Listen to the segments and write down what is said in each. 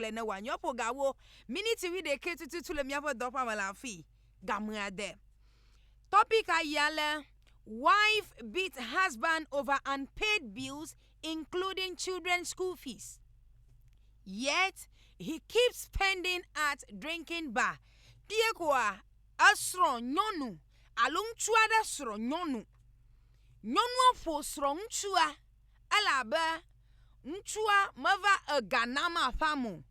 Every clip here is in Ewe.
kple ne wòanyɔ ƒo gawo miniti wuiɖekɛ tututu le míaƒe dɔƒea me le afii game ade. Tɔpika yi ale, Wife Beats Husband Over Unpaid Bills Including Children's School Fees, Yet He Keeps Spending at Drinking Bar, Kpee koa, esrɔ̃ nyɔnu alo ŋutsu aɖe srɔ̃ nyɔnu. Nyɔnua ƒo srɔ̃ŋutsua. elabe ŋutsua meva ega nam aƒãm o,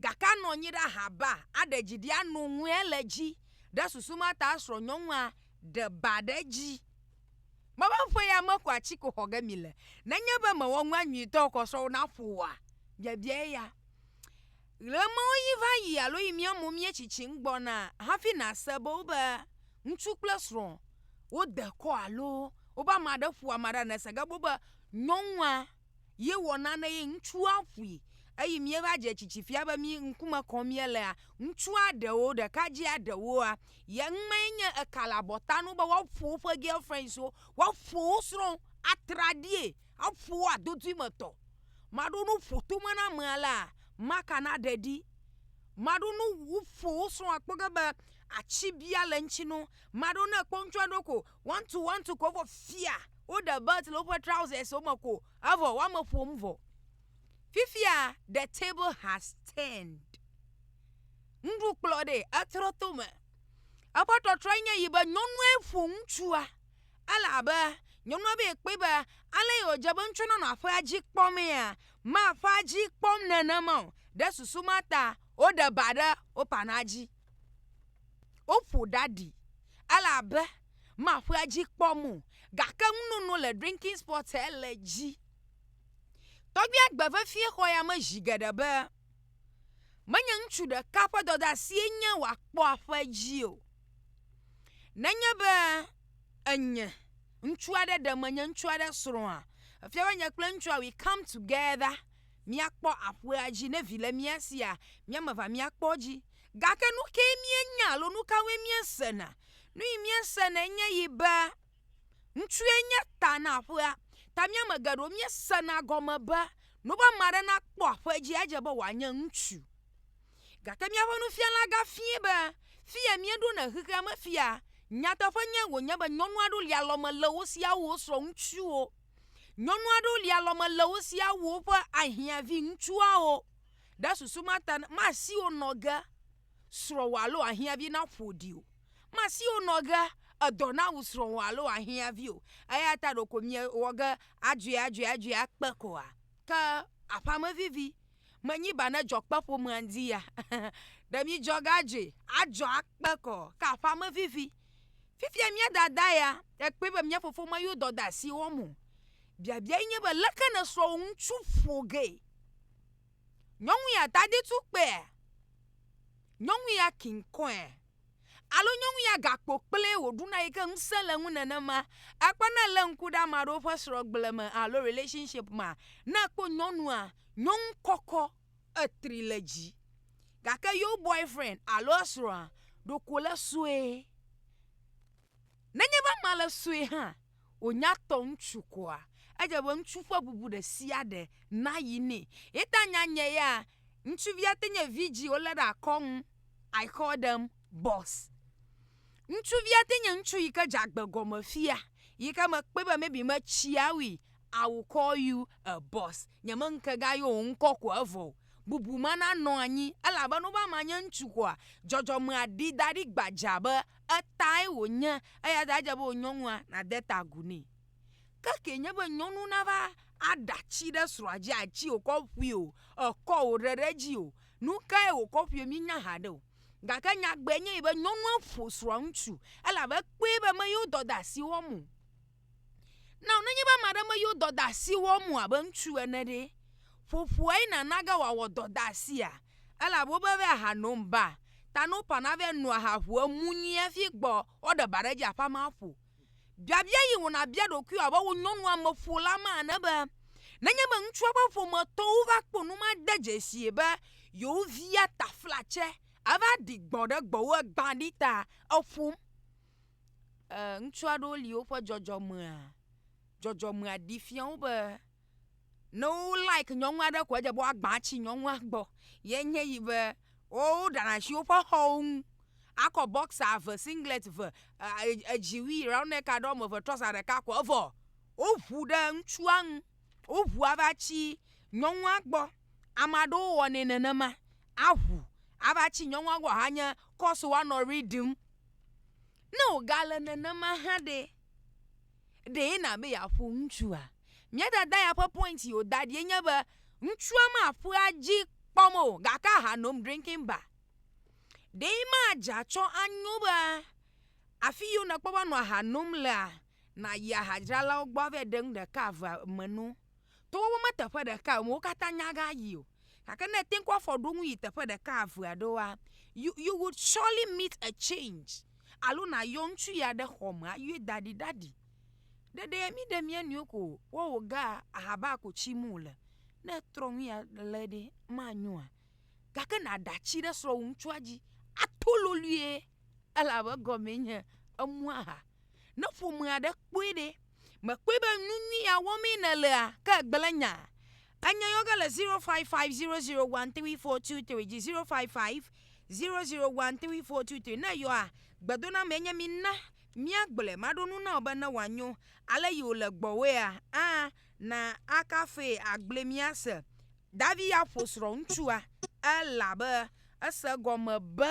gake anɔ anyi ɖe ahabaa, aɖe dzi ɖi, ano ŋue le edzi. Ɖe susu ma ta srɔ̃nyɔnua ɖe ba ɖe edzi. Mebe ƒe ya me ko atsiko xɔ ge mile. Nenye be mewɔ nua nyuitɔ o kɔ srɔ̃wò naƒo wòa? Biabia eya. Ɣemawo yi va yi alo yi mía mo míetsitsim gbɔna hafi nàse be wobe Ŋutsu kple srɔ̃ wode kɔ alo wobe ame aɖe ƒo ame aɖe anɔ se ge be nyɔnua ye wɔ nane ye ŋutsua ƒui eye míeva dze tsitsi fia be mí ŋkume kɔm míelea, ŋutsua ɖewo, ɖekadzea ɖewoa, ye ŋmee nye eka le abɔta na wo be woaƒo woƒe girlfriends wo, woaƒo wo srɔ̃ atraɖii. Eƒo wa dodui me tɔ. Maɖo nu ƒo tome na ame alea, maka na ɖe ɖi. Maɖo nu wu ƒo wo srɔ̃ akpɔ ge be atsi bia le ŋtsi no. Maɖo ne ekpɔ ŋtsua ɖo ko one two one two ko vɔ fia wo ɖe belt le woƒe trousers wo me ko evɔ wo ame ƒom vɔ. Fifia the table has turned. Ŋɖu kplɔ ɖe etrɔ to me. Eƒe trɔtrɔ enye yi be nyɔnue ƒo ŋtsua Ele abe nyɔnua be yekpɔe be ale yi wòdze be ŋutsua nanɔ aƒea dzi kpɔmea, maƒea dzi kpɔm nenema o. Ɖe susu ma ta woɖe ba ɖe wo panaa dzi. Woƒo ɖa ɖi. Ele abe maƒea dzi kpɔm o. Gake nunono le drinking spot he le edzi. Tɔgbia gbe vevie xɔ ya me zi geɖe be menye ŋutsu ɖeka ƒe dɔdeasie nye wòakpɔ aƒe dzi o. Nenye be. Enye. Ŋutsu aɖe ɖe menye ŋutsu aɖe srɔ̃a. Efia be nye kple ŋutsua we come together. Míakpɔ aƒea dzi. Ne vi le mía sia, mía ame evea míakpɔ edzi. Gake nu kae míenya alo nu kawoe míesena? Nu yi míesena enye yi be ŋutsue nye ta na aƒea. Ta mía ame geɖewo míesena gɔme be ne wobe ame aɖe nakpɔ aƒe dzi edze be wòanye ŋutsu. Gake míaƒe nufiala gafiae be fia míeɖo na xexea me fia. Nyateƒenyae wònye be nyɔnu aɖewo li alɔme le wo siaa wu wo srɔ̃ŋutsuwo. Nyɔnu aɖewo li alɔme le wo siaa wu woƒe ahiã viŋutsuawo. Ɖe susu ma ta masi wo nɔ ge srɔ̃wò alo ahiã vi naƒo ɖi o. Masi wo nɔ ge edɔ nawu srɔ̃wò alo ahiã vi o. Eya ta ɖeko miewɔ ge adzɔe adzɔe adzɔe akpe koa? Ke aƒeamevivi. menyi ba ne dzɔ kpe ƒomea ŋdi ya ɖe mi dzɔ ga dzi adzɔ akpe kɔ ke aƒa me vivi fifia mia dada ya ekpe be mia fofo ma yo dɔ da si wɔm o biabia yi nye be leke ne srɔ wo ŋutsu ƒo ge nyɔnu ya tadi tu kpea nyɔnu ya kinkɔe Alo nyɔnu ya gakpo kple wòɖuna yi ke ŋusẽ le ŋu nenema. Ekpɔ ne lé ŋku ɖe ame aɖewo ƒe srɔ̃gble me alo relationship mea, ne ekpɔ nyɔnua, nyɔnu kɔkɔ, etri le dzi. Gake yewo boyfriend alo esrɔ̃a, ɖeko le sue. Nenye be amea le sue hã, wònya tɔ ŋutsu koa, edze be ŋutsu ƒe bubu ɖe sia ɖe nayi nɛ. Ye ta nya nye ya, ŋutsuvia te nye vidzi wolé ɖe akɔ ŋu. I call them boss. Ŋutsuvia te nye ŋutsu yi ke dze agbe gɔme fia yi ke mekpɔe be maybe metsia wui I will call you a boss. Nyemeŋke ga yɔ wò ŋkɔ ko evɔ o. Bubu ma nanɔ anyi elabe ne wobe ama nye ŋutsu koa, dzɔdzɔmea ɖi da ɖi gbadzaa be etae wònye eya ta edze be wò nyɔnua nàde ta agu nɛ. Ke kee nye be nyɔnu nava aɖa tsi ɖe srɔ̃a dzi atsi wòkɔ ƒui o, ekɔ wòɖe ɖe edzi o, Nu kae wòkɔ ƒoe míenya haɖe o, gake nyagbee nye yi be nyɔnua ƒo srɔ̃aŋutsu elabe ekpɔe be meyi wo dɔdeasi wɔm o. Nao nenye be ame aɖe meyi wo dɔdeasi wɔm o abe ŋutsu ene ɖe, ƒoƒoae nàna ge wòawɔ dɔdeasia? Elabe wobe be aha nom ba, ta no ƒãna be noa aha ʋua mu nyuie hafi gbɔ woaɖe ba ɖe edzi aƒe amea ƒo. Biabia yi wò nabia ɖokuiwò abe wò nyɔnuameƒola ma ene be, Nenye be ŋutsua ƒe ƒometɔwo va kpɔ nu made dzesie be yewo via taflatse ava ɖi gbɔ̃ ɖe gbɔwò egbã ɖi ta eƒom? Ẽ, ŋutsu aɖewo li woƒe dzɔdzɔmea, dzɔdzɔmea ɖi fia wo be, ne wo like nyɔnu aɖe koa edze abe woagba tsi nyɔnua gbɔ ye nye yi be woɖana asi woƒe xɔwo ŋu akɔ bɔksa eve singlɛt eve e edziwui rɔnɛka ɖe wɔme eve trɔza ɖeka ko evɔ woŋu ɖe ŋutsua ŋu woŋu ava tsi nyɔnua gbɔ. Ame aɖewo wɔnɛ nenema aŋu ava tsi nyɔnua gbɔ ahanye kɔsu woanɔ ʋli ɖim. Ne wogale nenema hã ɖe ɖee na be yeaƒo ŋutsua? Mía dada ya ƒe point yi wòda ɖi enye be ŋutsua maƒea dzi kpɔm o gake aha nom drinking bar. Ɖee madze atsɔ anyo be afi yiwo nèkpɔ be nɔ aha nom lea, nàyi ahadzralawo gbɔ ava ɖe nu ɖeka evea me no. Togbɔ be meteƒe ɖekae wò, wo katã nyagayi o. Gake ne ète ŋu kɔ afɔ ɖo ŋu yi teƒe ɖeka evea ɖoa, you you would surely meet a change alo nàyɔ ŋutsu ya ɖe xɔ me ayi da ɖi ɖaɖi. Ɖeɖe mí ɖe mía nɔewo ko wowo ga ahaba ko tsim wòle. Ne etrɔ nu ya le ɖe manyoa? Gake nàɖe atsi ɖe srɔ̃wò ŋutsua dzi ato lolue elabe egɔmee nye emu aha. Ne ƒome aɖe kpɔe ɖe, mèkpɔe be nu nyui ya wɔmee nèlea? Ke ègblẽ nya. Enya yɔ ge le zero five five zero zero one three four two three dzi zero five five zero zero one three four two three. Ne eyɔa, gbedonamee nye mina. Mía gblɔe maɖo nu na wò be ne wòa nyo ale yi wò le gbɔwòa a na a kafee a gblɔe mía se. David ya ƒo srɔ̃ ŋutsua e la be ese egɔme be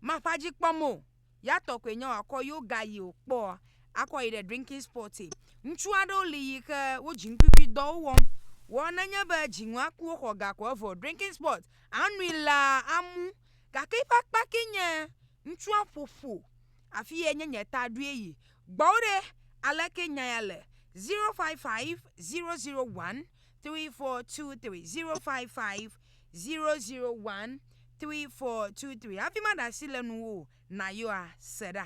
maƒa dzi kpɔm o ya tɔ koe nye wòa kɔ yo ga yi wò kpɔ a kɔ yi ɖe drinking spot e. Ŋutsu aɖewo li yi xe wo dziŋkwikwi dɔwo wɔm wɔ nenye be dzi ŋua ku wo xɔ ga ko evɔ drinking spot a nui la a mu Gake eƒe akpa ke nye ŋutsua ƒoƒo afi ye nye nye ta ɖoe yi. Gbɔwò ɖe, aleke nya ya le? 0550013423, 0550013423 hafi maɖe asi le nuwò o, nayɔa, se ɖa.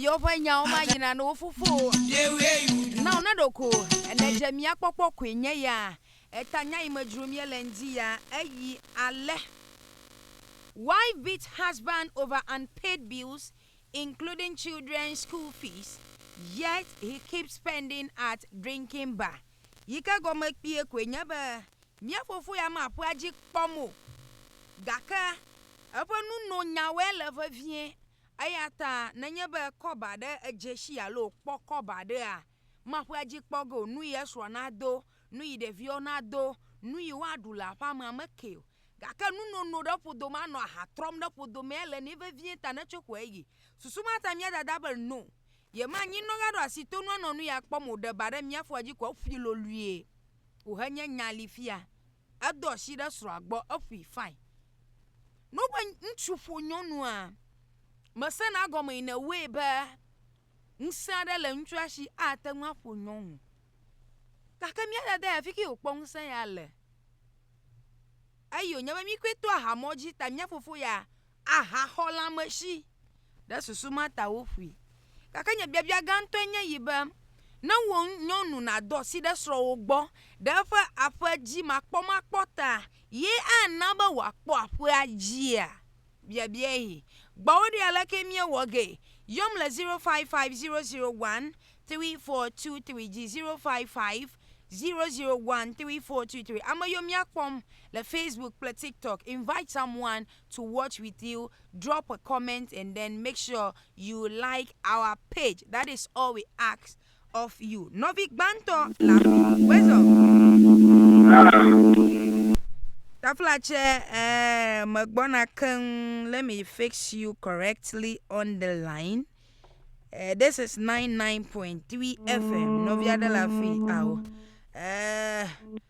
Ɖeviwo ƒe nyawo mayina ne wo fofowo. Na wo naɖo ko. Enedze mía kpɔkpɔ koe nye ya. Eta nya yi me dzrom míele ŋdi ya eyi ale, Wife beats husband over unpaid bills including children's school fees yet he keeps spending at drinking bar. Yi ke gɔme kpuie koe nye be mía fofo ya maƒea dzi kpɔm o gake eƒe nunonyawoe le vevie. Eya ta nenye be kɔba aɖe edze si alo wòkpɔ kɔba aɖea, maƒea dzi kpɔ ge o, nu yi esrɔ̃a nado, nu yi ɖeviawo nado, nu yi woaɖu le aƒeamea mekee o. Gake nunono ɖe ƒodo me anɔ aha trɔm ɖe ƒodo mee ele nɛ vevie ta netso ƒo eyi. Susu ma ta mía dada be no, yemanyi nɔga ɖo asi tonu anɔ nu ya kpɔm o ɖe ba ɖe mía foa dzi ko eƒui lolue o henye nya li fia. Edo asi ɖe srɔ̃a gbɔ, eƒui, fine. Nobe ŋutsu ƒo nyɔnua, mesena gɔme in a way be ŋusẽ aɖe le ŋutsua si ate ŋu aƒo nyɔnu. Gake mía dada ya fiki wòkpɔ ŋusẽ ya le. Eyi wònye be mí koe to ahamɔ dzi ta mía fofo ya ahaxɔlãmesi ɖe susu ma ta woƒui. Gake nye biabia gãtɔe nye yi be, ne wò nyɔnu nàdo asi ɖe srɔ̃wò gbɔ ɖe eƒe aƒedzimakpɔmakpɔ ta ye ana be wòakpɔ aƒea dzia? Biabiae. Gbɔ wo ɖi aleke míewɔ gee. Yɔm le 0550013423 dzi, 0550013423. Ame yiwo míakpɔm le Facebook kple TikTok, invite someone to watch with you. drop a comment and then make sure you like our page that is all we ask of you nɔvi gbãtɔ la wezɔ tafla tsɛ eh, megbɔna keŋ let me fix you correctly on the line Uh, this is 99.3 FM. Novia de la Fi. Ow. Uh,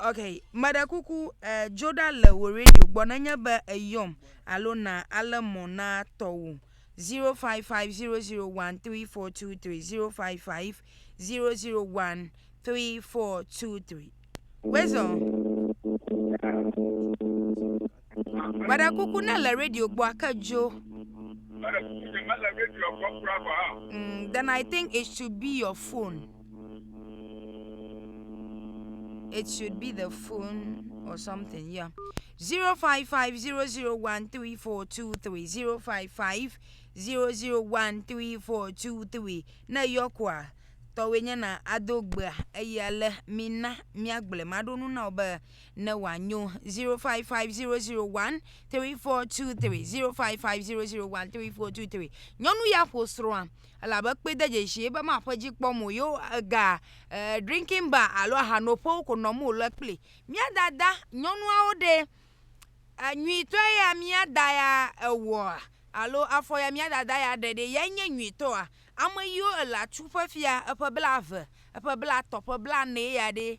Ok, meɖe kuku eh, dzo ɖa le wò radio gbɔ nenye be eyɔm alo na ale mɔ na tɔwò 05500134230 05500134230. Wezɔ. Meɖe kuku ne le radio gbɔ ake dzo. Meɖe kuku ne mele radio gbɔ kura gɔ̃ hã. Mm, then I think it should be your phone. It should be the phone or something, yeah. 0550013423055 0013423 ne yɔ koa tɔwoe nye na ado gbea eyi ale mina miagblɔe maɖo nu na wo be ne wòanyo 0550013423 nyɔnu ya ƒo srɔ̃a elabe kpee de dzesi ebe maƒe dzi kpɔm o yewo egaa e drinking bar alo ahanoƒewo ko nɔm wòle kpli mía dada nyɔnuawo ɖe enyuitɔe ya mía da ya ewɔa alo afɔ ya mía dada ya ɖe ɖe yae nye nyuitɔa ameyiwo ele atsu ƒe fia eƒe bla've eƒe bla'tɔ̃ eƒe bla'nee ya ɖe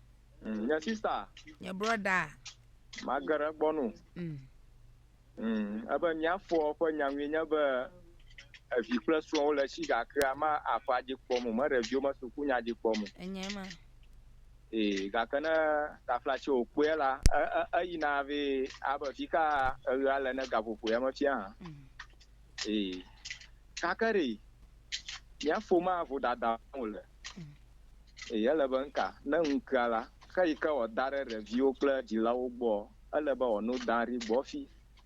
Mm, nye sista. Nye brɔda. Mage ɖe gbɔ nu. Mm. Mm, ebe miafɔ ƒe nyanui nye be evi kple srɔ̃wo le si gake ama aƒa dzi kpɔ mo, me ɖeviwo me suku nya dzi kpɔ mo. Enye ma. Ee, gake ne tafla tsi wòkpɔe la, eyina e, e, e vɛ abe fi ka eɣea le ne gaƒoƒo ya mefia hã. Mm. Ee, gake ɖe mía ƒomea vodada wòle. Eye ele be ŋka ne ŋkea la, xe yi ke wòada ɖe ɖeviwo kple dzilawo gbɔɔ, ele be wòano da ɖi gbɔfi.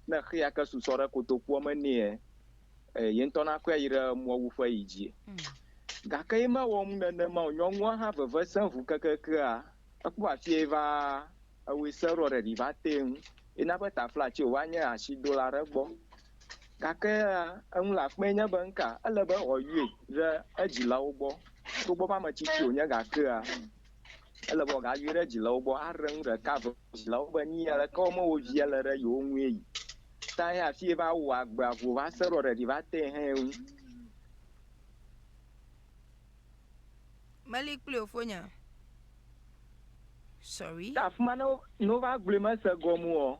Ne xea ke susɔ ɖe kotokuɔ me nɛɛ, e yeŋtɔ nakɔe ayi ɖe mɔwuƒe yi dzi. Gake ye mewɔ nu nenema o. Nyɔnua hã veve sẽ ŋu kekekea. Ekpɔ afie yi va ewui se ɖoɔ ɖeɖi va tee ŋu. Ye na be taflatsi wòva nye ashidola ɖe gbɔ. Gake hã, eŋu le akpee nye be, Nuka ele be wòayɔe ɖe edzilawo gbɔ? Togbɔ be ame tsitsi wònye gakea, ele be wòagayɔe ɖe edzilawo gbɔ aɖe nu ɖeka eve. Dzilawo be, Nyi aleke wɔm wo via le ɖe yewo ŋue yi ta hɛn hafi va wɔ agbea vo va se ɖɔ ɖeɖi va tee hɛn ŋu. Meli kpli wò fonya. Sorry. Ke afima ne wova gblɔe mese gɔme oa?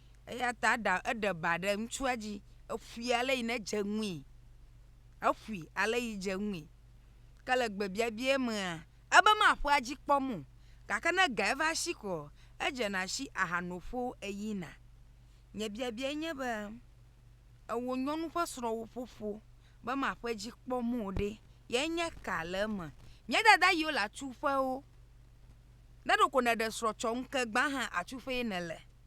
Eya ta eɖa eɖe ba ɖe ŋutsua dzi. Eƒui ale yi nedze ŋui. Eƒui ale yi dze ŋui. Ke le gbebiabiae mea, ebe maƒea edzi kpɔm o. Gake ne ega eva esi koa, edzena esi ahano ƒo eyina. Nye biabiae nye be, ewò nyɔnu ƒe srɔ̃wò ƒoƒo be maƒe edzi kpɔm o ɖe, ye nye ka le eme? Nye dada yiwo le atu ƒe wo. Ne ɖeko nèɖe srɔ̃ tsɔ ŋu ke gbã hã atu ƒee nèle.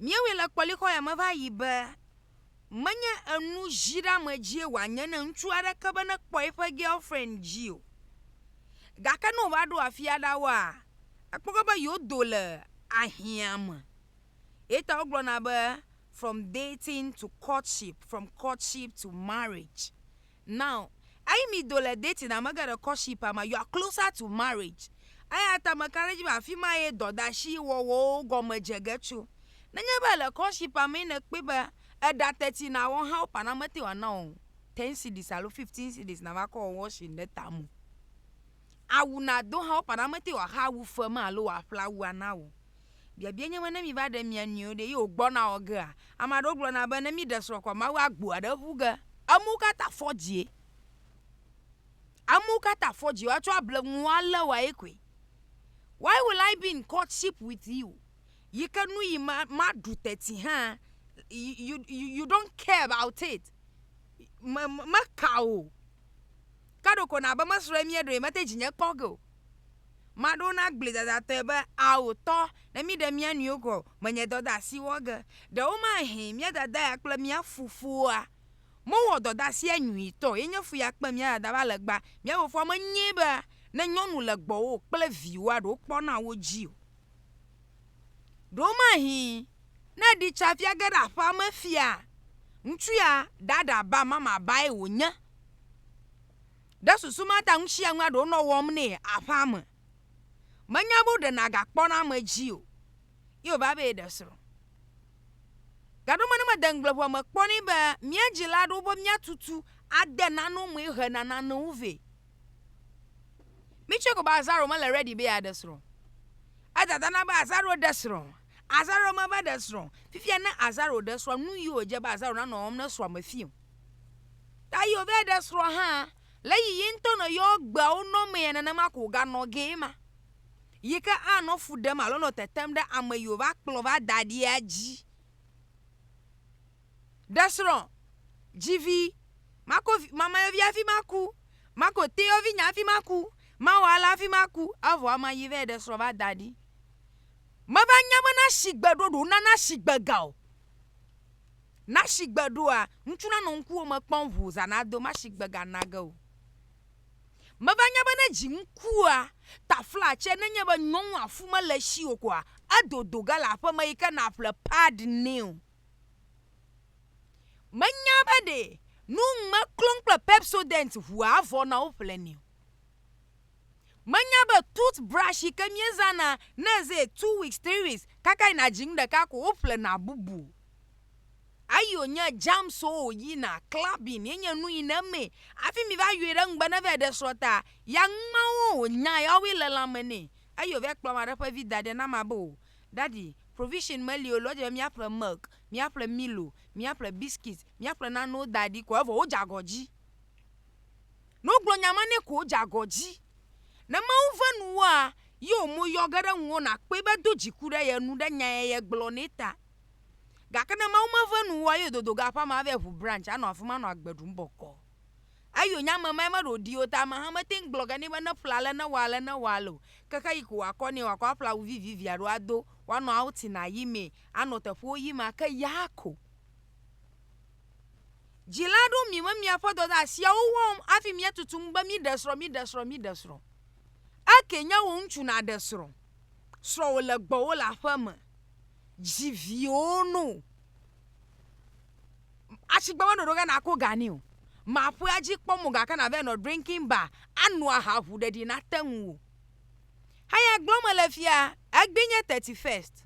Míewɔe le kpɔlixɔ ya me va yi be menye enu dziɖame dzie wòanye ne ŋutsu aɖeke be nekpɔ eƒe girlfriend dzi o. Gake ne wòva ɖo afi aɖawoa, ekpɔgbe be yewodo le ahiã me. Eta wogblɔna be from dating to courtship, from courtship to marriage. Now eyi mi do le dating ame geɖe courtship a ma you are closer to marriage eya ta meka ɖe edzi be afi ma ye dɔdasi wɔwɔwo gɔme dze ge tso. Nenye be èle courtship a mee nèkpɔe be eɖa teti na wɔ hã wo ƒã na mete ŋu ana wò ten cedis alo fifteen cedis nava kɔ wɔ washing ɖe tame o. awu nàdo hã woƒana womete wòaxe awu fem alo wòaƒle awua na wò o. Biabia nye be ne míva ɖe mía nɔewo ɖe ye wògbɔna wɔ gea? Ame aɖewo gblɔna be ne míɖe srɔ̃ koa Mawu agbu aɖe ƒu ge. Amewo katã afɔ dzie. Amewo katã afɔ dzie. Woatsɔ able ŋu alé wòa ye koe. Why will I be in courtship with you? Yi ke nu yi ma maɖu teti hã you you you don't care about it. Me me meka o. Ke ɖeko nàbe mesrɔ̃e míeɖoe mete dzinye kpɔ ge o. Maɖo wo nagblɔe dadatɔe be, Ao tɔ, ne míɖe mía nɔewo gɔ̃ menye dɔdeasi wɔ ge, ɖewomahee mía dada ya kple mía fofoa mewɔ dɔdeasia nyuitɔ o, ye nye fu ya kpe mía dada va legba. Mía fofoa menyae be ne nyɔnu le gbɔwò kple viwòa ɖe wokpɔna wo dzi o. Ɖewomahee ne èɖi tsa fia ge ɖe aƒea me fia, ŋutsu ya ɖaɖa ba mamabae wònye Ɖe susu ma ta ŋusiaŋue aɖe wonɔ wɔm nɛ aƒea me. Menya be woɖe nagakpɔ ɖe ame dzi o ye wòva be yeɖe srɔ̃. Gaɖo me ne mede ŋugble ŋua me kpɔ nɛ be mía dzila aɖewo be míatutu ade nanewo me hena nanewo vɛ. Mitsɔe ko be Azaro mele ready be yeaɖe srɔ̃ o. Edada na be Azaro ɖe srɔ̃. Azaro meva ɖe srɔ̃ o. Fifia ne Azaro ɖe srɔ̃, nu yi wòdze be Azaro nanɔ wɔm ne srɔ̃a mefia o. Ta yi ove ɖe srɔ̃ hã le yi yi ŋutɔ nɔ yɔ gbeawo nɔ mea nenema ko ga nɔ ge ma yi ke a nɔ fu ɖem alo nɔ tetem ɖe ame yi wova kplɔ va da ɖia dzi. Ɖe srɔ̃ dzi vi mako mamayɔvi hafi maku mako teyɔvi nya hafi maku mawɔ ale hafi maku evɔ ama yi ve ɖe srɔ̃ va da ɖi. Meva nya be na shigbe ɖoɖo nana shigbe ga o. Na shigbe ɖoa, ŋutsu nanɔ ŋkuwo me kpɔm ŋuu zã nado ma shigbe ga nage o. Meva nya be ne dzi ŋkua tafla tse nenye be nyɔnua fu mele eshii o koa, edodo ge le aƒeme yike naƒle pad nɛ o. Menya be ɖe nu ŋme klɔm kple Pepsodent ŋua avɔ na wo ƒle nɛ o. Menya be tooth brush yi ke míezana ne eze two weeks, three weeks kaka yina dzi nu ɖeka ko woƒlena bubu. Eyi wònye germs wo wòyina, clubbing ye nye nu yina eme hafi miva yɔe ɖe ŋugbe ne vae ɖe srɔ̃ta. Ya ŋumawo wònya ya wowoe le lãme nɛ. Eyi wòvae kplɔ ame aɖe ƒe vi da ɖi na mea be o, Daddy, provision meli o le wodze be míaƒle milk, míaƒle milo, míaƒle biscuit, míaƒle nanewo da ɖi ko evɔ wodze agɔ dzi. Ne wogblɔ nya ma nɛ ko wodze agɔ dzi. Ne Mawu ve nuwòa, ye wò mo yɔ ge ɖe ŋuwò nàkpɔe be do dziku ɖe ye nu ɖe nya ye gblɔ nɛ ta. Gake ne Mawu meve nuwòa, ye wòdodo ga aƒea me ava ʋu branch anɔ afi ma nɔ agbe ɖum bɔkɔɔ. Eyo nya me mae meɖo ɖi o ta ameha mete ŋu gblɔ ge nɛ be neƒle ale, newɔ ale, newɔ ale o. Ke xeɣi ko wòakɔ nɛ wòakɔ aƒle awu vivivi alo ado, wòanɔ outing ayi mee, anɔ teƒewo yim ake, yaa ko. Dzila aɖewo mi me miaƒe dɔdeasiawo wɔm hafi míetutum be míɖe srɔ̃, míɖe srɔ̃, míɖe srɔ̃. Eke nye wò ŋutsu nàɖe srɔ̃. Srɔ̃wò le gbɔwò le aƒeme. Dzi viwo no. Asigbe be ɖoɖo ge nàko ga ni o. Maƒea dzi kpɔm o gake nàva nɔ drinking bar ano aha ŋu ɖeɖi nate ŋuwò. Eya gblɔm mele fia, egbee nye thirty first.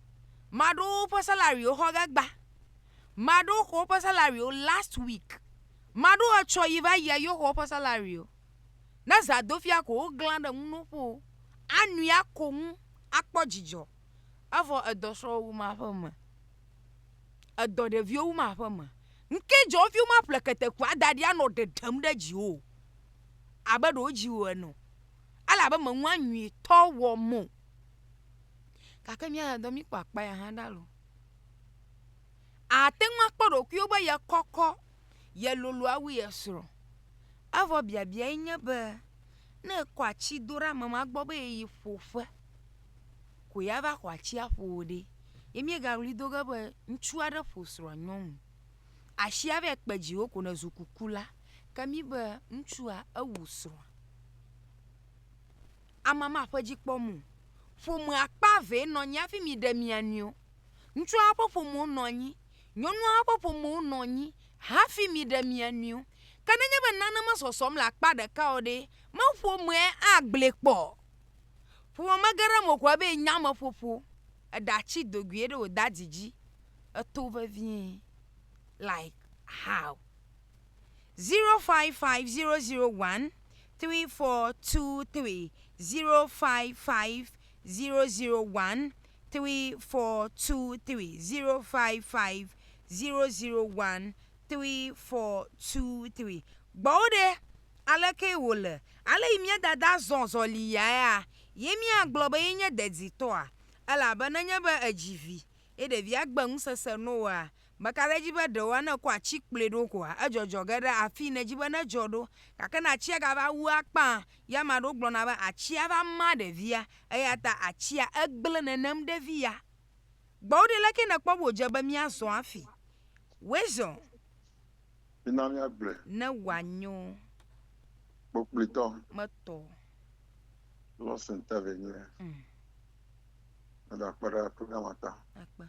Ame aɖewo ƒe salariwo xɔ ge gbã. maɖewo xɔ woƒe salary wo last week maɖewo etsɔ yi va yia yewo xɔ woƒe salary o ne zadofia ko woglã ɖe ŋu no ƒo anui ako ŋu akpɔ dzidzɔ evɔ edɔ srɔ̃wo wu ma ƒe me edɔ ɖeviwo wu ma ƒe me ŋke dzɔ wofi woma ƒle ketekua da ɖi anɔ ɖeɖem ɖe dziwo abe ɖewo dziwo ene ele abe meŋu anyuitɔ wɔ mo gake mía ya dɔ mí kpɔ akpa ya hã ɖa lo Àte ŋu akpɔ ɖokuiwò be yekɔkɔ, yelolo awu yesrɔ̃. Evɔ biabiae nye be ne èkɔ atsi do ɖe ame ma gbɔ be yeyi ƒo ƒe ko yeava xɔ atsia ƒo wò ɖe, ye míegaɣli do ge be ŋutsu aɖe ƒo srɔ̃a nyɔnu. Atsia vae kpe dziwò ko nèzu kukula. Ke mí be ŋutsua ewu srɔ̃a. Ame ma ƒe dzi kpɔm o. Ƒomea kpa vɛ nɔ anyi hafi miɖe mia nɔewo. Ŋutsua ƒe ƒomewo nɔ anyi, nyɔnua ƒe ƒomewo nɔ anyi hafi miɖe mia nɔewo. Ke nenye be nane mesɔsɔm le akpa ɖeka o ɖe, me ƒomea agblɔe kpɔ? Ƒome mege ɖe eme o ko ebe enye ameƒoƒo. Eɖatsi do gui ɖe wò dadi dzi. Eto vevie. Like how? Zero five five zero zero one three four two three zero five five zero zero one three four two three zero five five zero zero one three four two three gbɔwo ɖe aleke wòle ale yi mía dada zɔ zɔli yaea ye míagblɔ be yenye deditɔa elabe nenye be edzi vi ye ɖevia gbe ŋusese no oa Meka ɖe edzi be ɖewoa ne ekɔ atsi kplɔe ɖo koa edzɔdzɔ ge ɖe afii nedzi be nedzɔ ɖo. Gake ne atsia gava wu akpaa, ye ame aɖewo gblɔna be atsia va ma ɖevia eya ta atsia egblẽ nenem ɖe vi ya gbɔ. Woɖe leke nèkpɔ be wòdze be míazɔ afi? Wezɔ. Mina míagblɔe. Ne wòanyo. Kpokplitɔ. Metɔ. Lost interview nye. Meda kpe ɖe programme ta. Akpe.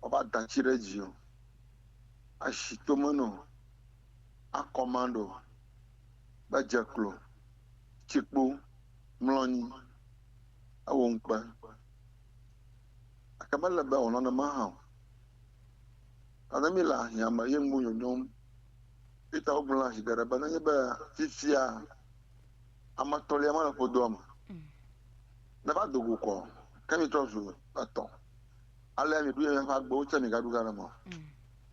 wova da tsi ɖe dzi o, ashi to me no, akɔ ma ɖo, be dze klo, tsi kpo, mlɔ nyi, ewo ŋkpe. Gake mele be wònɔ nenema hã o. Ta ne míle ahiã me ye ŋu nyonyom, eyi ta wogblɔ na zi geɖe be nenye be fifia ame etɔ̃lia mele ƒodoa me, neva do go kɔ, ke mítrɔ zu etɔ̃. Alea mieɖu ye miaƒe agbewo tsɛ migaɖu gã ɖe me o.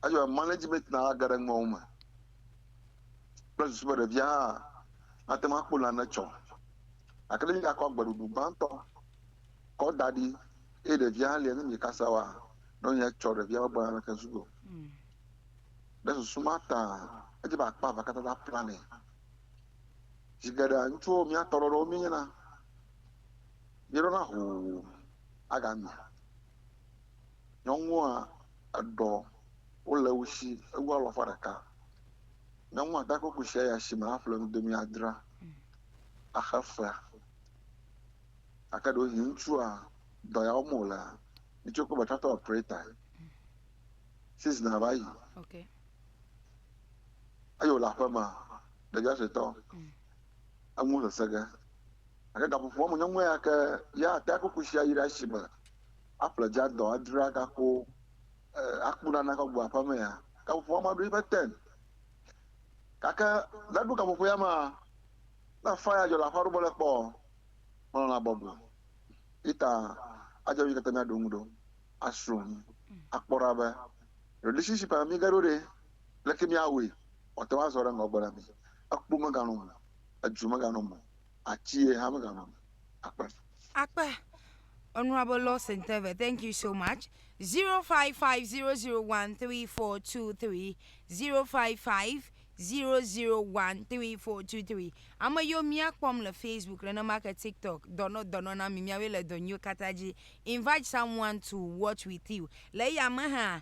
Eye wòle management na age ɖe nuawo me kple susu be ɖevia hã nate ŋu akpɔ nane tsɔ. Gake ne miakɔ agbeɖuɖu gbãtɔ kɔ da ɖi eye ɖevia hã lia ne miekasa oa, nɔ nyi etsɔ ɖevia ƒe agbe naneke zu o. Ɖe susu ma ta edze be akpa evea katã ta planɛ. Zi geɖea ŋutsuwo mía tɔɖɔɖɔwo míenyena. Míeɖona hoo agami. Nyɔnua eɖɔ wo le wo shi ewu alɔfa ɖeka. Nyɔnua da kple kushia yi ashime aƒle nudomi adra axe fea. Gake ɖewohĩ ŋutsua dɔ ya wɔm wolea, mitsɔe kple be tractor operator-e. Season-a va yi. Eyi wole aƒemea, ɖevia suetɔ, enu sese ge. Gake gaƒoƒoa me nyɔnua ya ke ya atea kuku sia yi ɖe asime aƒle dzia dɔ adzra gako e, aku ɖa nakɔ gbɔ aƒeme ya. Gaƒoƒoa ma ɖo eƒe ten. Gake ne eɖo gaƒoƒo ya mea, ne faya dzɔ le aƒea ɖo mele kpɔ o, melɔ̃na bɔbɔe. Yi ta adzɔ mí katã míaɖo ŋu ɖo, asrɔ̃ nu, akpɔ ɖa be relationship a me míege ɖo ɖe, leke míawɔe wòate ŋu azɔ ɖe ŋgɔgbe na mí. Ekpo meganɔm o, edzo meganɔm o, Ati ye hã megagblɔ be akpe. Akpe. Honorable Lawson Teve, thank you so much. 0550013423, 0550013423. Ame yiwo mía kpɔm le Facebook nenema ke TikTok, dɔnɔ dɔnɔ na mi, miawoe le dɔ nyuiwo katã dzi. Invite someone to watch with you. Le eya me hã,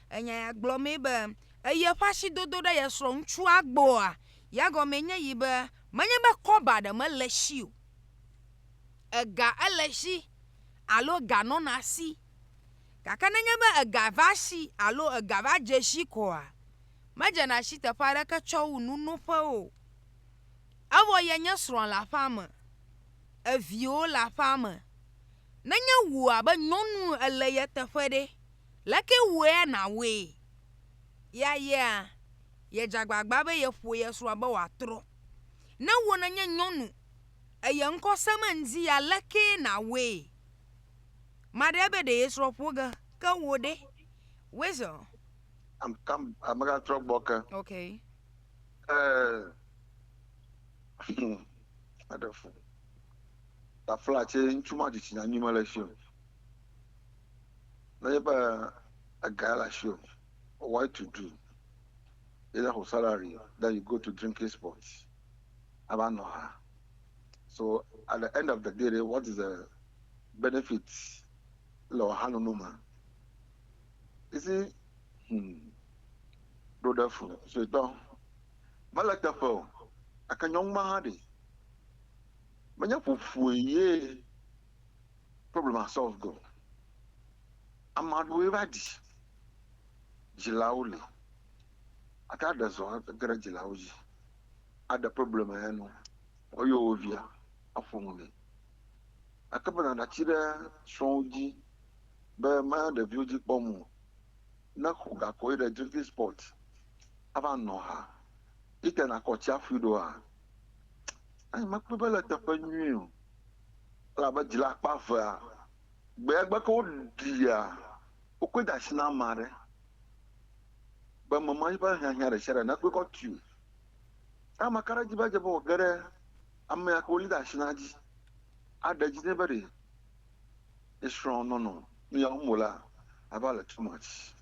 Enya ya gblɔmee be eye eƒe asi dodo ɖe ye srɔ̃ŋutsua gbɔa? Ya gɔmee nye yi be menye be kɔba ɖe mele esi o. Ega ele esi alo ega nɔna esi. Gake nenye be ega va esi alo ega va dze esi koa, medzena si teƒe aɖeke tsɔ wu nunoƒe o. Evɔ yenye srɔ̃a le aƒea me, eviwo le aƒea me. Nenye wò abe nyɔnu ele ye teƒe ɖe? Leke wue nàwɔe? Ya yea, yedze agbagba be yeƒo ye srɔ̃a be wòatrɔ. Ne wò nènye nyɔnu, eye ŋkɔ sẽm ŋdi ya, lekee nàwɔe? Maɖe ebe ɖe ye srɔ̃ ƒo ge, ke wò ɖe? Weasel. I'm come. I'm gonna throw bucket. Okay. Uh, wonderful. Tafla ce ŋutsu ma dzitsinya nyume le si o. Nenye be ega le asiwò, what to do? Either wò salary then you go to drinking spots ava nɔ ha. So at the end of the day ɖe what is the benefit le wò ha nono me? You see, hmm, ɖo ɖe fu suetɔ. Mele teƒe o, gake nyɔnu ma hã ɖe menye ƒoƒoe ye problema sɔlv ge o. Ama ɖewoe va ɖi dzilawo li. Ate aɖe zɔ age ɖe dzilawo dzi aɖe problema ya nu woyɔ wo via aƒo nu nɛ. Ate be nàɖe atsi ɖe srɔ̃wo dzi be mele ɖeviwo dzi kpɔm o. Ne xɔ gakɔ yi ɖe drinkin spɔt ava nɔ ha yi te nakɔ tsiaƒui ɖoa, anyi mekpɔe be ele teƒe nyui o. Elabe dzila akpa evea, gbea gbe ke woɖia wo koe de asi na ame aɖe be mema eƒe hiahiã ɖe sia ɖe nakpɔe kɔ tui o. Ke ame ka ɖe dzi be edze be wòage ɖe amea ke wolé ɖe asi na dzi aɖe edzi nɛ be ɖe ye srɔ̃ nɔnɔ nu ya wɔm wolea, ava le too much.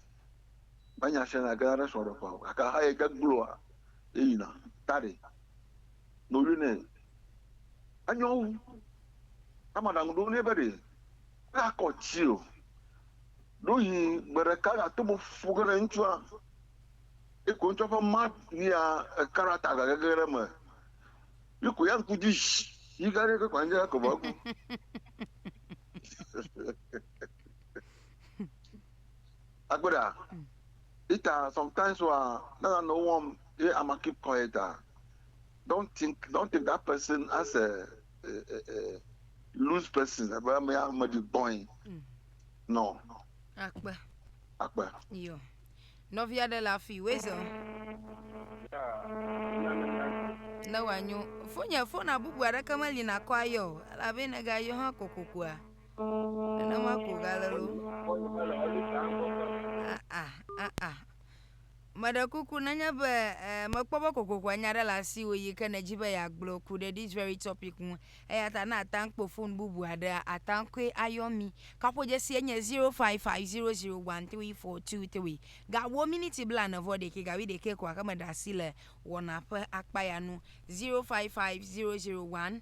Be nya sia nya gena ɖe srɔ̃ɖeƒea o, gake hã ye de gloa, yeyina. Ta ɖe? no ɣli nɛ. Enyo wu ne maɖaŋu ɖo nɛ be ɖe eakɔ tsi o. Ɖohi gbeɖeka yeato mo ƒu ge ɖe ŋutsua, ye ko ŋutsua ƒe ma lia ekaɖata gage ge ɖe eme. Ye ko ya ŋku dzi zi yi gã ɖe ke kpa ŋdze eko va ku. Akpe ɖa. Peter sometimes wa ne nanewo wɔm ye ama keep quiet a don't think don't take that person as a, a, a, a loose person ebe ame ya ame ɖi gbɔe Mm. no Akpe. akpe Yo. Nɔvi aɖe le afi Wezo ne wòanyo. Fonye fona bubu aɖeke meli nakɔ ayɔ o. Elabe ne gayɔ hã kokokoa. Nenema ko gale lo. Ah, ah, ah, ah. Meɖe kuku nenye be eh, mekpɔ be kokoko anya ɖe le asiwò yi ke nèdzi be yeagblɔ ku ɖe this very topic ŋu. Eya ta ne ata ŋu kpɔ fon bubu aɖea, ata ŋu koe ayɔ mí. Kaƒodzesie nye 0550013423. Gawu miniti blaene vɔ ɖekɛ, gawu ɖekɛ ko gake meɖe asi le wɔna ƒe akpa ya nu. 055001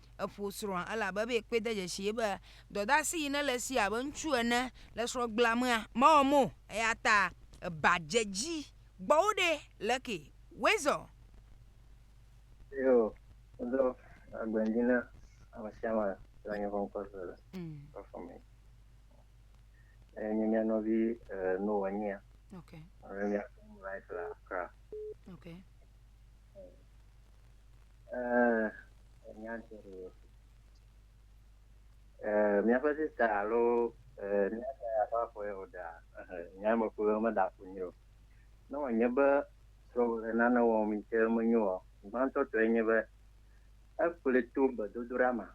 eƒo srɔ̃a elabe be yekpɔe de dzesii be dɔdeasi yi nele esi abe ŋutsu ene le srɔ̃gblamea mewɔ mɔ o eyata eba dze edzi gbɔ wo ɖee leke Weasel. Yo, woɖo agbe ŋdi na amesiame le nye kɔnkɔ se le kɔfɔ me. Eye nye mia nɔvi eh, no wɔ nyia. Okay. Eye mia life la kra. Okay. Míaƒe sista alo mía dada ƒe afɔ ye wòɖa nya me ƒo ɖom meɖa fu nɛ o. Ne wònye be srɔ̃wò le nane wɔm yi ke menyo oa, gbãtɔ tɔe nye be ekplɔe to gbedodoɖa me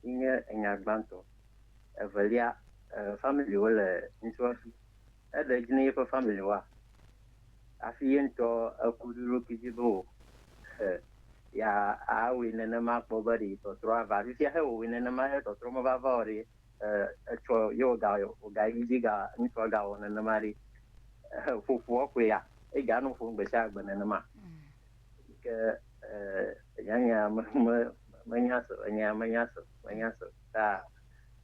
yi nye enya gbãtɔ. Evelia, familiwo le ŋutsua si. Eɖe edzi ne yeƒe family wa hafi ye ŋutɔ eku ɖe eɖokui dzi be o he ya awɔe nenema kpɔ be ɖe tɔtrɔ ava. Fifia he wòwɔe nenema he tɔtrɔ meva va o ɖe etsɔ ye wòga wòga yi dzi ga ŋutsua ga wɔ nenema ɖe he ƒoƒua koe ya ega nɔ ƒom gbe sia gbe nenema. Ke eh, nyanya me me menya so enya menya so menya so ta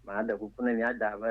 maɖe kuku ne mia da be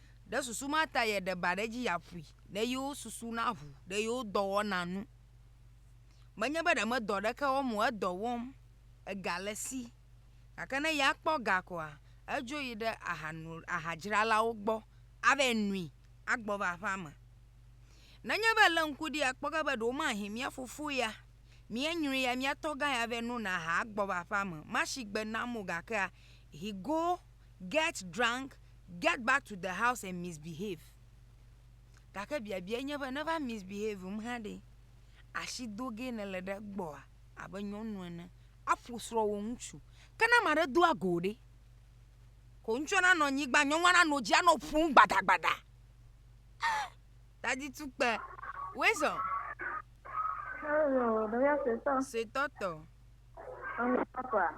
Ɖe susu ma ta yeɖe ba ɖe edzi yeaƒui ne yewo susu naʋu ɖe yewo dɔwɔna ŋu. Menye be ɖe medɔ aɖeke wɔm o, edɔ wɔm, ega le esi. Gake ne ya kpɔ ga koa, edzo yi ɖe aha nu, aha dzralawo gbɔ ava nui agbɔ va aƒea me. Nenye be èlé ŋku ɖi akpɔ ge be ɖe womahin mía fofo ya, mía nyɔe ya, mía tɔgã ya va nona aha agbɔ va aƒea me, mashi gbe nam o gakea, hi go. get drunk, get back to the house and misbehave. Gake biabiae nye be neva misbehavem hã ɖe, asi do ge nèle ɖe egbɔa abe nyɔnu ene aƒo srɔ̃wò ŋutsu. Ke ne ame aɖe do ago ɖe? Ko ŋutsua nanɔ anyigba, nyɔnua nanɔ dzi anɔ ƒom gbadagbada. Ah, dadi tukpe. Wezɔ. Hello, ɖevia suetɔ. Suetɔ tɔ. Ame papa.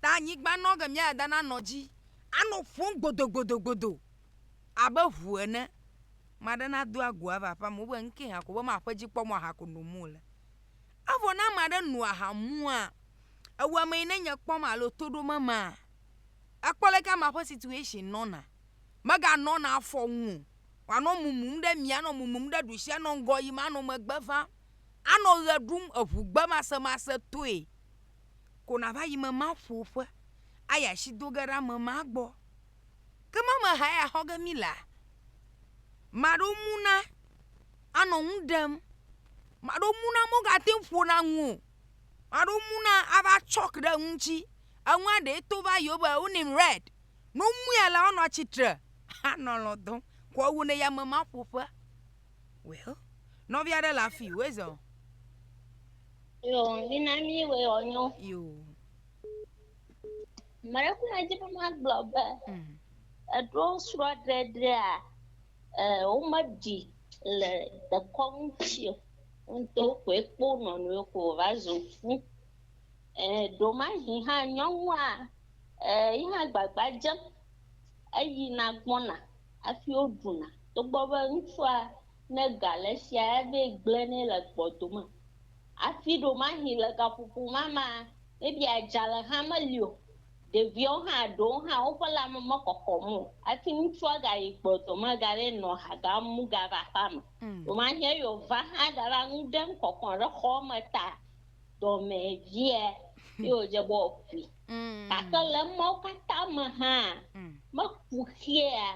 ta anyigba nɔ ke mía dada nanɔ dzi anɔ ƒom gbodogbodo abe ŋu ene. Ame aɖe nado agu ava aƒea me wobe nuke hã ko be maƒe dzikpɔmɔ aha ko nom wole. Evɔ ne ame aɖe no aha mumua, ewɔ ame yi ne nye kpɔm alo to ɖom emea, ekpɔ leke amea ƒe situation nɔna. Meganɔna afɔ nu o. Wòanɔ mumum ɖe mia, anɔ mumum ɖe ɖusi, anɔ ŋgɔ yim, anɔ megbe vam, anɔ ʋe ɖum, eŋugbe masemase toe. ko nava yi me maƒo ƒe ayi asi do ge ɖe ame ma gbɔ. Ke ma me ha ya xɔ ge mi la, maɖo mu na anɔ nu ɖem. Maɖo mu na mogate ŋu ƒo na nu o. Maɖo mu na ava tsɔk ɖe enu ŋuti. Enua ɖee to va yi wo be wo nim red. Ne womui alea, woanɔ atsitre anɔ alɔ̃ dɔm ko ewu ne yi ame ma ƒo ƒe. Well, nɔvi aɖe le afi wòe zɔ. Yo, mina mi wɔ ɔnyo. Yo. Mɛɖe kuna dzi be magblɔ be mm. eɖo srɔ̃ ɖeɖea e womeɖi le dekɔnu tsi o. Ŋutɔ koe kpo nɔnɔewo ko va zu fu. E ɖomahi hã nyɔnua e yi hã gbagba dzem. eyina gbɔna hafi woɖuna togbɔ be ŋutsua ne ga le esia evɛ gblẽ nɛ le gbɔdo me hafi ɖewomahi le gaƒoƒo ma mea maybe adzalɛ hã meli o ɖeviwo hã ɖewo hã woƒe lame mekɔkɔm o hafi ŋutsua gayi gbɔdo me gavɛ nɔ ha gam mu gava aƒeame ɖewomahi eyi wòva hã gava nuɖem kɔkɔ ɖe xɔme ta dɔmɛ via ye wòdze be woaƒui Mm. Gake le emawo katã me hã, mm. meku xea,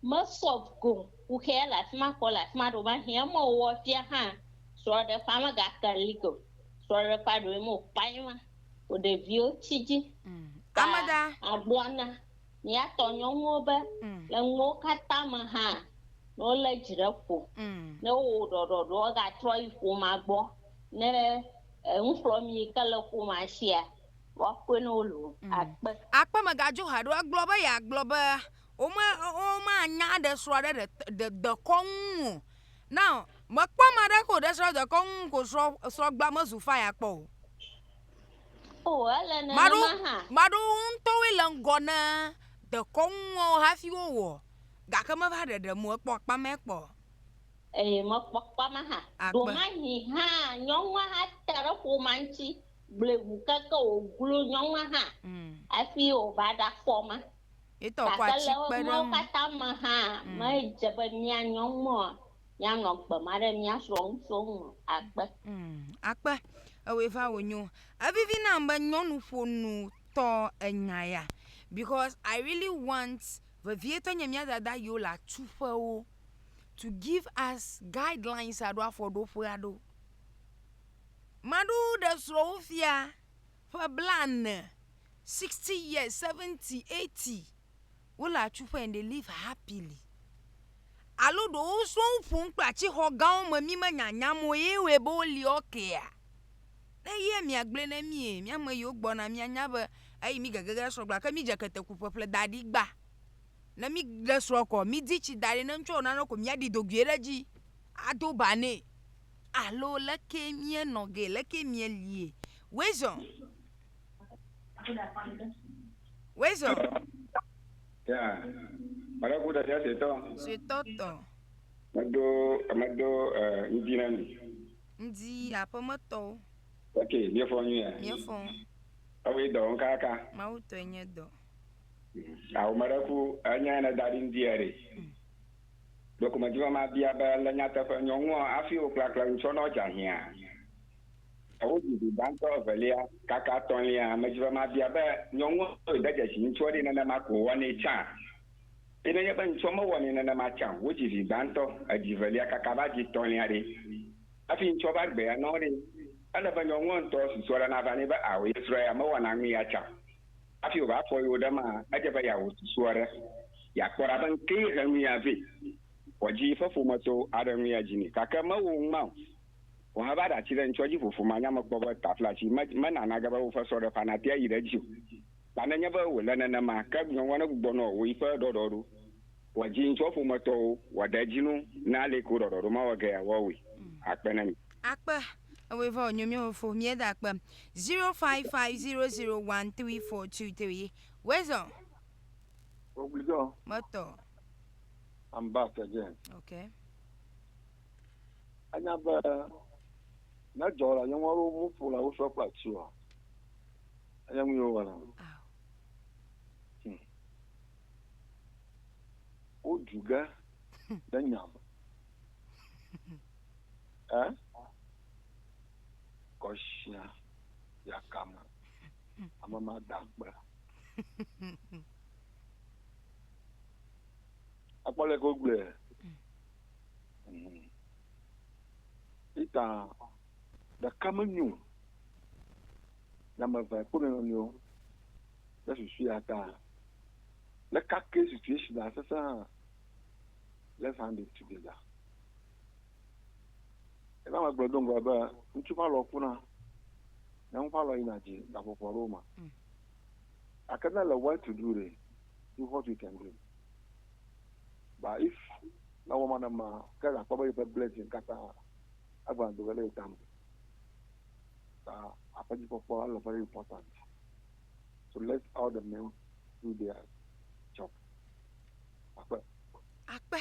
mesɔ go ku xea le afi ma kɔ le afi ma ɖo va hiã eme wɔ fia hã. Srɔ̃ɖeƒea megake li ko. Srɔ̃ɖeƒea ɖoe mo kpae ma. O ɖeviwo tsi dzi. Mm. Ta Amada. Agblɔ na míatɔ nyɔnuwo be mm. le nuwo katã me hã ne wole dzi ɖe ƒo, mm. ne wowɔ ɖɔɖɔɖɔ wogatrɔ yi ƒomea gbɔ ne eŋuxlɔmi ke le ƒomea sia. woakpɔe ne wole o. Akpe. Akpe megadzo ha ɖo egblɔ be yeagblɔ be wome womanya ɖe srɔ̃ aɖe ɖe ɖe dekɔnu ŋu o. Now mekpɔ ame aɖe ke wòɖe srɔ̃ ɖe dekɔnu ŋu ko srɔ̃ srɔ̃gbea mezu fire akpɔ o. O ele Maɖo nenema hã. maɖo wo ŋutɔwoe le ŋgɔ ne dekɔnuwo hafi wowɔ gake meva ɖeɖe mo ekpɔ akpa mɛ kpɔ. Eye mekpɔ akpa ma hã. Akpe. Ɖomahi hã nyɔnua hã te ɖe ƒomea ŋuti gblɔe ŋu keke wòglo nyɔnua hã hafi wòva ɖakpɔ ma. Gake le emawo katã me hã, medze be mía nyɔnua míanɔ gbe ma ɖe mía srɔ̃ ŋutsuwo ŋu o. Akpe. Akpe. Ewɔe va wònyo. Evivi nam be nyɔnuƒonutɔ enya ya because I really want vevietɔ nye mía dada yiwo le atuƒewo to give us guidelines alo afɔɖoƒe aɖewo. Maɖewo ɖe srɔ̃wofia ƒe blaene, sixty years, seventy, eighty, wo le atsu ƒe and they live happily. Alo ɖewo wosrɔ̃ wo ƒom kple atixɔ gãwo me mi menya nya me o ye wɔe be wo li ɔkea. Ne ye mia gblɔe na mie mia me yiwo gbɔna mia nya be eyi mi gege ɖe srɔ̃ gblɔ ke mi dze kete ku ƒeƒle da ɖi gba. Ne mi ɖe srɔ̃ kɔ mi di tsi da ɖi ne ŋtsɔ nane ko mia ɖi dogoe ɖe dzi ado ba nɛ. alo leke mie nɔ ge leke mie lie wezɔ wezɔ suetɔ tɔ medo medo ŋdi na mi ŋdi aƒemetɔwo ok miefɔ nu ya miefɔ ewe dɔ ŋkaka mawu tɔe nye dɔ awomaraku anya ne da ɖi ŋdi ya ɖe mm. Ɖokumedzivɔma bia be, Le nyateƒe nyɔŋua hafi wò klakle nu tsɔ nɔ dza hiã? Ɖewo ɖi vi gbãtɔ, evelia, kaka etɔ̃lia. Amedzivɔma bia be, Nyɔŋua wòe de dzesi ŋutsua ɖi nenema ko wòwɔnɛ tsã? Eye nenye be ŋutsua mewɔnɛ nenema tsã o, wodzi vi gbãtɔ, edzi velia kaka va dzi etɔ̃lia ɖe? Hafi ŋutsua va gbea nɔ ɖe, ele be nyɔŋua ŋutɔ susua ɖe nava nɛ be ao ye srɔ̃ ya mewɔna nu ya tsã o. Hafi wòva fɔ yewo ɖe maa, edze be yeawɔ susu aɖe, yeakpɔ ɖa be ŋkee he nuya vɛ. Vɔ dzi ƒe ƒometɔ aɖe ŋue ya dzi nɛ. Gake mewɔ ŋma o. Vɔ heva ɖe ati ɖe ŋtsɔ dzi ƒoƒo ma nya mekpɔ be taflatsi me, mena nage be woƒe sɔɖeƒea natea yi ɖe edzi o. Ta nenye be wòle nenema, ke nyɔnua ne gbugbɔ nɔ wò yiƒe ɖɔɖɔ ɖo. Vɔ dzi ŋtsɔ ƒometɔwo wɔ ɖe edzi no ne aleke wò ɖɔɖɔ ɖo mawɔ ge ya, woawɔe akpe na mi. Akpe ewoe vɔ nyo mio fo mie da akpe 0550013423 wezo Ogbidɔ meto I'm back again okay Anya be ne dzɔ la nyɔnu aɖewo mu ƒo la wosɔ kple ati wa anya nu yewo wɔna hmm. wodu ge ɖe nya me Ɛ? Kɔshia yakame. Ame ma da akpe. Akpɔ le ko gbe. Ita ɖeka menyo. Nyame ve kpone no nyo. Ɖe susu ya ta. Le kake situation asese ha. Let's hand it together. Ena megblɔ do ŋgɔ be ŋutsu ƒe alɔ kuna, nyɔnu ƒe alɔ yina dzi le aƒoƒo aɖewo me. Mm. Gake ne le well to do ɖe, do what you can do. But if na wɔ ma ne ma, ke nakpɔ be yeƒe blessing katã egba do ge ɖe ye tame. Ta aƒedzikpɔkpɔ ele very important. So let all the men do their job. Akpe. Akpe.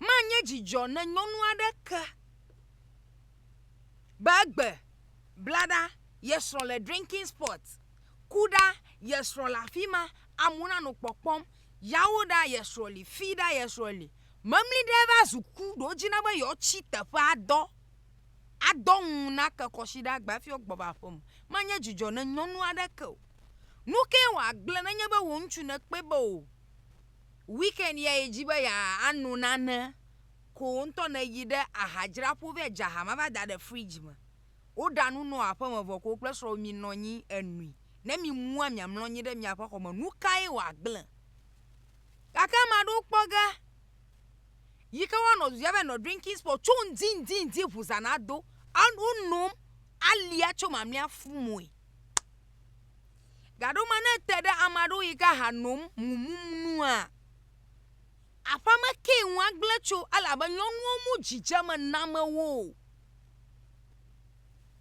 Manye dzidzɔ ne nyɔnu aɖe ke be egbe bla ɖa, ye srɔ̃ le drinking spot, ku ɖa, ye srɔ̃ le afi ma, amewo nanɔ kpɔkpɔm, yawo ɖa, ye srɔ̃ li, fi ɖa, ye srɔ̃ li. Memli ɖe va zu ku ɖe wo dzi na be yewoatsi teƒe adɔ, adɔ ŋu nake kɔsiɖa agba hafi woagbɔ va aƒe me. Manye dzidzɔ ne nyɔnu aɖe ke o. Nu kae wòagblẽ nenye be wò ŋutsu nèkpɔe be o? weekend ya yi dzi be ya ano nane ko wo ŋutɔ ne yi ɖe aha dzra ƒo vɛ dza aha ma va da ɖe fridge me. Wo ɖa nu nɔ aƒe me vɔ ko wo kple srɔ̃wò mi nɔ anyi enui. Ne mi mua mia mlɔ anyi ɖe miaƒe xɔ me nukae wɔ agble? Gake ame aɖewo kpɔ ge yi ke woanɔ du dzi ava nɔ drinking spot tso ŋdi ŋdi ŋdi ŋu zã nado. Wo nom alia tso mamlea fumɔe. Gaɖo me ne ete ɖe ame aɖewo yi ke ha nom mumum nua, aƒea me kee ŋu agblẽ tso elabe nyɔnuwo mu dzidzeme name wo o.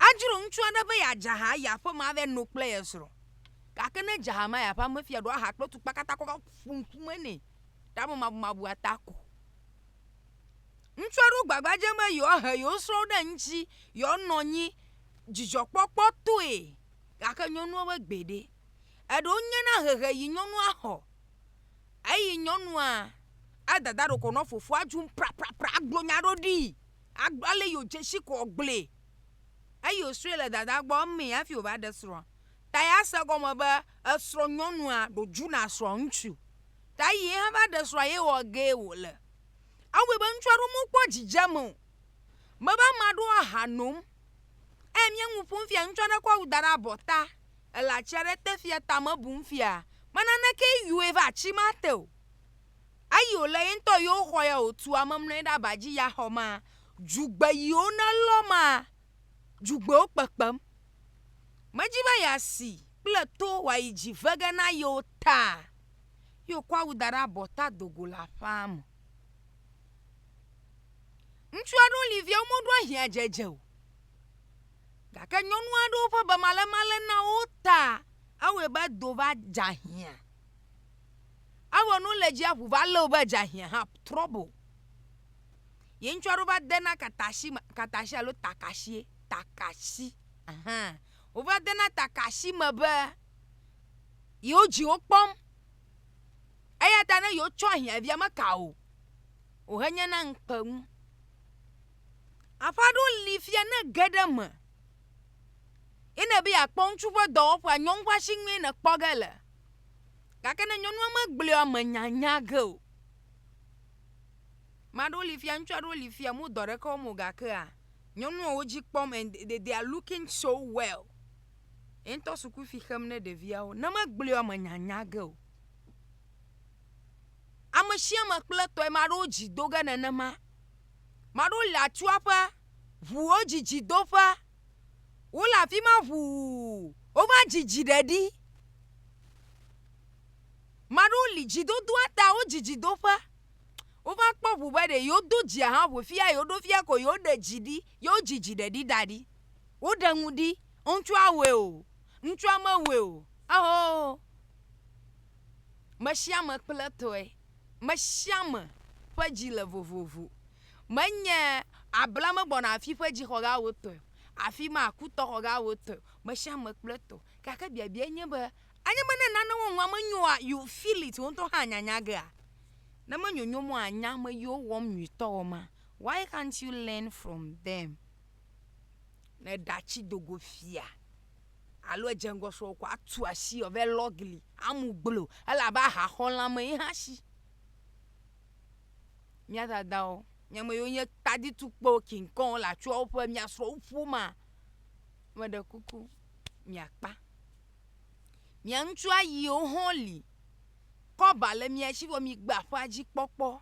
Adzro ŋutsu aɖe be yeadze aha yi aƒe me ava no kple ye srɔ̃. Gake ne edze aha me yi aƒea me fia ɖo aha kple tukpa katã kɔ va ƒu ŋkume nɛ ɖe amemabumabua ta ko. Ŋutsu aɖewo gbagba dzem be yewoahe yewo srɔ̃wo ɖe eŋuti yewoanɔ anyi dzidzɔkpɔkpɔtɔe. gake nyɔnua ƒe gbe ɖe? Eɖe wonye na hehe yi nyɔnua xɔ eyi nyɔnua adada ɖokɔ nɔ fofoa dzi praprapra agblɔ nya ɖo ɖii agblɔ ale yi wodze si ko wògblɔe eyi wòsrɔ̃e le dadaa gbɔ emee hafi wòva ɖe srɔ̃a ta yease egɔme be esrɔ̃nyɔnua ɖo dzu na srɔ̃ŋutsu ta eyi ye hã va ɖe srɔ̃a ye wɔ gee wòle. Ewɔe be ŋutsu aɖewo mekpɔ dzidzeme o. Mebe ame aɖewo aha nom. Eye mi ŋu ƒom fia ŋutsu aɖe kɔ awu da ɖe abɔta. Ele atsi aɖe te fia tame bum fia. Me naneke yɔe va atsi ma te o. Eyi wòle ye ŋutɔ yewo xɔ ya wòtu ame mlɔ anyi ɖe aba dzi ya xɔ ma. Dzugbe yiwo nelɔ ma, dzugbewo kpekpem. Medzi be yeasi kple to wòayi dzi ve ge na yewo ta. Ye wòkɔ awu da ɖe abɔta do go le aƒea me. Ŋutsu aɖewo li via womeɖo ahiã dzedze o gake nyɔnu aɖewo ƒe bemalemale na wo ta ewɔe be do va dze ahiã. Ewɔ ne wole dzia ŋu va lé wo be dze ahiã hã trɔbo. Ye ŋutsu aɖewo va de na katasi me katasi alo takasie takasi aha wova de na takasi me be yewo dziwo kpɔm eya ta ne yewotsɔ ahiã via meka o. wòhenye na ŋukpe ŋu. Aƒe aɖewo li fia ne ege ɖe eme ye ne be yeakpɔ ŋutsu ƒe dɔwɔƒea nyɔnu ƒe asinue nèkpɔ ge le gake ne nyɔnua megblɔe o mènyanya ge o. Ame aɖewo li fia ŋutsu aɖewo li fia wome dɔ aɖeke wɔm o gakea nyɔnua wo dzi kpɔm and they they are looking so well. Ye ŋutɔ sukufi xem ne ɖeviawo ne megblɔe o mènyanya ge o. ame sia ame kple etɔe, ame aɖewo dzi do ge nenema, ame aɖewo le atua ƒe ŋuwo dzidzi do ƒe, wole afi ma ŋuu, wova dzidzi ɖe ɖi, ame aɖewo li dzi dodoa ta wodzidzi do ƒe, wova kpɔ ŋu be ɖe yewo do dzia hã ŋu fia yewo ɖo fia ko yewo ɖe dzi ɖi yewo dzidzi ɖe ɖi da ɖi, woɖe nu ɖi, ŋutsua wɔe o, ŋutsua mewɔe o, ewɔɔ, me sia me kple etɔe, me sia me ƒe dzi le vovovo. Menye abla megbɔna afi ƒe dzixɔ gã wò tɔe o, afi ma kutɔ xɔ gã wò tɔe o, me sia me kple etɔ. Gake biabiae nye be, anye be ne nane wò ŋua menyoa, you feel it, wò ŋutɔ hã anya nya gea? Ne menyonyom o ànya ame yiwo wɔm nyuitɔ wɔ ma? Why can't you learn from them? Ne ɖati do go fia. alo edze ŋgɔ srɔ̃wò ko atu asi wòava lɔ gli amu gbloo o. Ele abe aha xɔlã me ye hã si. Mía dadawo, mía ame yiwo nye taditukpewo, king kɔŋwo le atsyɔ̃wo ƒe mía srɔ̃wo ƒomea, meɖe kuku miakpa. Mia ŋutsu ayiwo hã li. Kɔba le mia si vɔ migbe aƒea dzi kpɔkpɔ.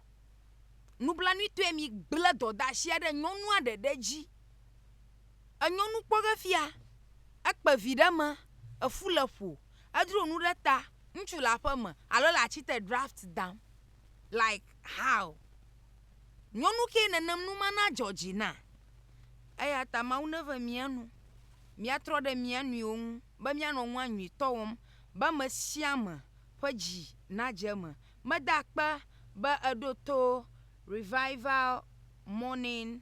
Nublanuitɔe migblẽ dɔdeasia ɖe nyɔnua ɖeɖe dzi. enyɔ nu kpɔ ge fia, ekpe vi ɖe me, efu le ƒo, edro nu ɖe ta, ŋutsu le aƒe me alo le ati te draft dam like how? Nyɔnu ke nenem nu ma nadzɔ dzi na? Eya ta Mawu neve mía nu, míatrɔ ɖe mía nɔewo ŋu be míanɔ nua nyuitɔ wɔm be ame sia ame ƒe dzi nadze eme. Meda akpe be èɖo to Revival Morning.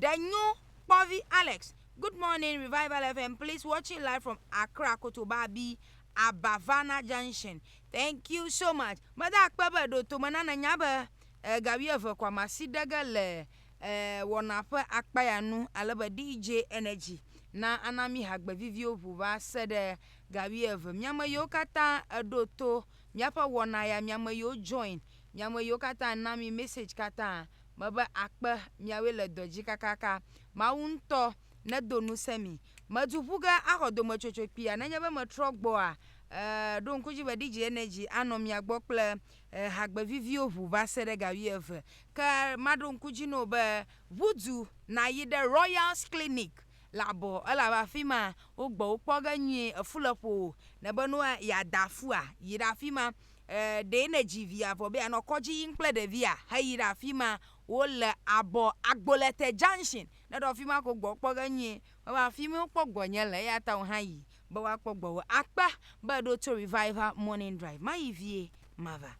Ɖe nyo kpɔvi Alex. Good morning revival FM please watching live from Accra Kotobabi Abavana junction thank you so much meda akpe be ɖo tome na nènya be eh, ga wuieve ko amasi ɖe ge le eh, wɔna ƒe akpa ya nu ale be DJ Energy na ana mi hagbe viviwo ŋu va se ɖe ga wuieve miame yiwo katã eɖo to míaƒe wɔna ya miame yiwo join miame yiwo katã na mi message katã mebe akpe miawoe le dɔ dzi kakaka. Mawu ŋutɔ nedo ŋusẽ mi. Medu ƒu ge axɔ dometsotso kpuia nenye be metrɔ gbɔa? E, ɖo ŋku edzi be DJ Energy anɔ mia gbɔ kple e, hagbe viviwo ŋu va se ɖe ga wuieve. Ke maɖo ŋku edzi na wò be ʋu du nàyi ɖe Royals Clinic le abɔ elabe afi ma wogbɔ wò kpɔ ge nyuie. Efu le ƒowò. Nèbe ne yeada fua? Yi ɖe afi ma. E, ɖee ne dzi via vɔ be anɔ kɔdzi yim kple ɖevia heyi ɖe afi ma wole abɔ Agbolete Junction. Ne ɖo afi ma ko gbɔ kpɔ ge nyuie. Ewɔ afi mi wokpɔ gbɔ nye le eya ta wò hã yi be woakpɔ gbɔ wò. Akpe be èɖo to Revival Morning Drive. Mayi vie mava.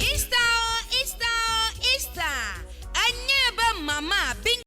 Easter o, Easter o, Easter! Enye be Mama Bing